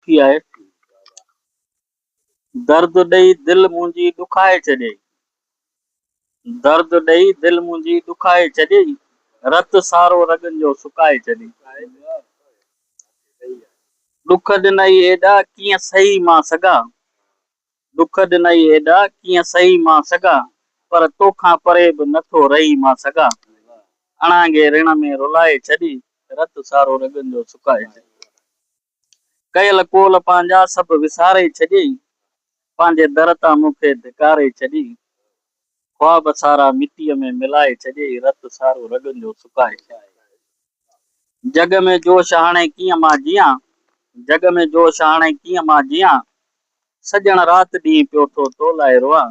ٿي آهي، درد ڏئي دل منهنجي ڏکائي ڇڏيئي، درد ڏئي دل منهنجي ڏکائي ڇڏيئي، رت سارو رڳن جو سڪائي ڇڏيئي، ڏک ڏنائي ايڏا ڪيئن سهي مان سگها، ڏک ڏنائي ايڏا ڪيئن سهي مان سگها، پر تو کان پري به نه ٿو رهي مان سگها، اڻانگي رڻ ۾ رلائي ڇڏيئي، رت سارو رڳن جو سڪائي ڇڏيئي. ڪيل قول پنهنجا سڀ وساري ڇڏي، پنهنجي در تان مون کي ڌڪاري ڇڏي، خواب سارا مٽيء ۾ ملائي ڇڏي، رت سارو رڳن جو سڪائي ڇڏي، جڳ ۾ جوش هاڻي ڪيئن مان جيان، جڳ ۾ جوش هاڻي ڪيئن مان جيان، سڄڻ رات ڏينهن پيو ٿو تو لاء روئان،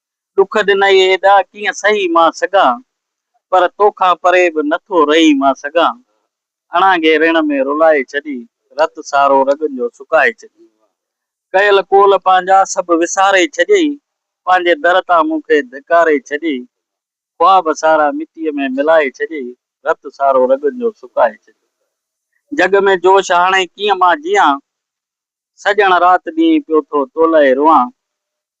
ڏک ڏنائي هيڏا ڪيئن سهي مان سگهان، پر تو کان پري به نه ٿو رهي مان سگهان، اڻانگي رڻ ۾ رلائي ڇڏي، رت سارو رڳن جو سڪائي ڇڏي، ڪيل قول پنهنجا سڀ وساري ڇڏيئي، پنهنجي در تان مون کي ڌڪاري ڇڏيئي، خواب سارا مٽيء ۾ ملائي ڇڏيئي، رت سارو رڳن جو سڪائي ڇڏيئي، جڳ ۾ جوش هاڻي ڪيئن مان جيان، سڄڻ رات ڏينهن پيو ٿو تولئي روئان،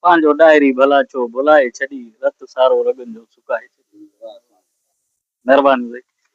پنهنجو ڏاهري ڀلا ڇو ڀلائي ڇڏي، رت سارو رڳن جو سڪائي ڇڏي. مهرباني هئي.